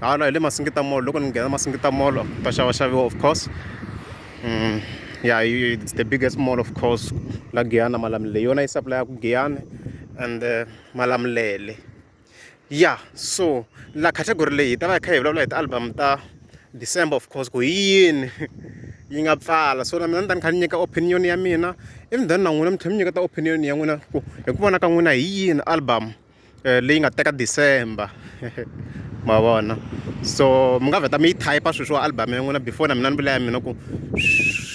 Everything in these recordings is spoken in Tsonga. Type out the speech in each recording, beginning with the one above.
hala hi le masingita mall loko ni nghena masingita mall ka xava xaviwa of course ya it's the biggest mall of course la giyani malamulele hi yona yi sapulayaku giyani and malamulele ya so la category leyi hi ta va hi kha hi vulavula hi ti-album ta december of course ku hi yini yi nga pfala so na mina ni ta ni kha ni nyika opinion ya mina even then na n'wina mi tlhela mi nyiketa opinion ya n'wina ku hi ku vona ka n'wina hi yini album eh, leyi nga teka december ma vona so mi nga vheta mi yi type sweswi wa album ya n'wina before na mina ni vula ya mina ku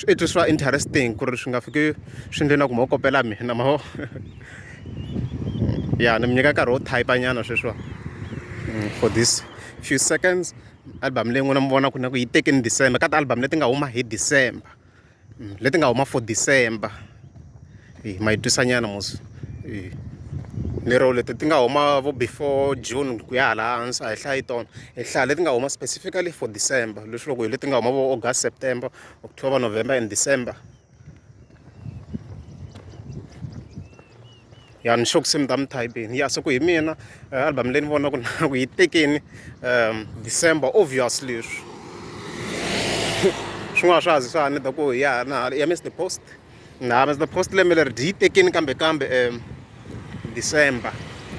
i twiswa interesting ku ri swi nga fiki swi ndle na ku ma kopela mina ma ya ni mi nyika nkarhi wo type nyana sweswiwa mm, for this few seconds album leyi n'wina mi vona ku na ku yi teke ni december ka ti-album leti nga huma hi december mm, leti nga huma for december e, ma yi twisanyana mos e, lero leti ti nga huma vo before june ku ya hala hansi a hi hlayi tona hi hlaya leti nga huma specifically for december leswi loko hi leti nga huma vo august september october november and december ya ni sure ku se mi ta mi thayibini ya se ku hi mina eh, album leyi ni vona ku na ku yi tekeni um december obviously leswi swin'wana swa zi swa ni ta ku ya na ya miss the post na miss the post lembe leri dyi yi tekeni kambe kambe um december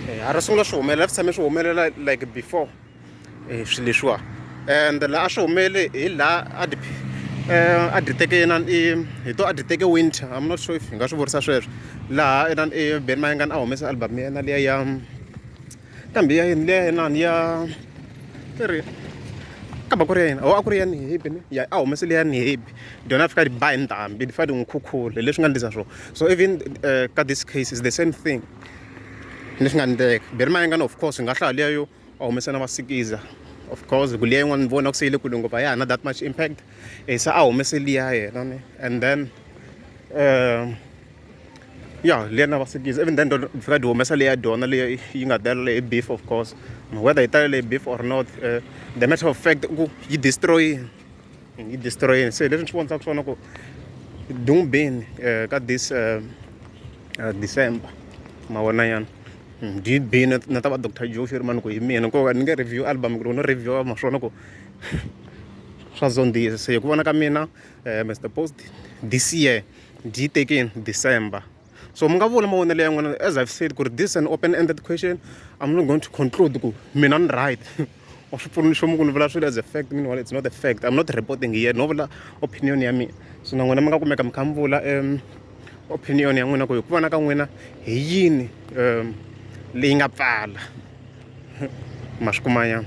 eh, a ri sungula swi humelela swi tshame swi humelela like before hi swilo leswiwa ende laha a swi humelele hi laha a dyi a dyi teke inana i hi to a dyi teke winter I'm not sure if hi nga swi vurisa sweswo laha inana i Benny Mayengani a humesa album ya yena liya ya kambe ya yini liya inana ya i ri ka ba ku ri ya yena ho a ku ri ya ni happy ne ya a humese liya ni happy dyona a fika a dyi ba hi ndhambi ni fane ni n'wi khukhula hi leswi nga endlisa swona so even ka this case is the same thing leswi nga endleka Benny Mayengani of course hi nga hlaya liya yo va humesa na va sikiza of course ku liya yin'wana ni vona ku se yi le kule ngopfu a ya ha na that much impact e se a humese liya yena ni and then um ya liya na va sikiza even then dona fika di humesa liya dona leyi yi nga talele hi beef of course whether yi talele hi beef or not uh, the matter of fact ku yi destroyini yi destroyeni se leswi ni swi vonisaka swona ku dungbeni eh, ka this eh, eh, december mavona yana hmm, did be na ta va dr joe sherman ku hi mina nkoka ni nge review album ku ri no review ma swona ku swa zondzisa se hi ku vona ka mina mr post this year byi tekeni december so mi nga vula mavonelo ya n'wina as i've said ku ri this an open ended question i'm not going to conclude ku mina ni right or swi pfuna nchumu ku ni vula swilo as a fact meanwhile it's not a fact i'm not reporting here no vula opinion ya mina so na n'wina mi nga kumeka mi kha mi vula um opinion ya n'wina ku hi ku vona ka n'wina hi yini um leyi nga pfala ma swi kumanyana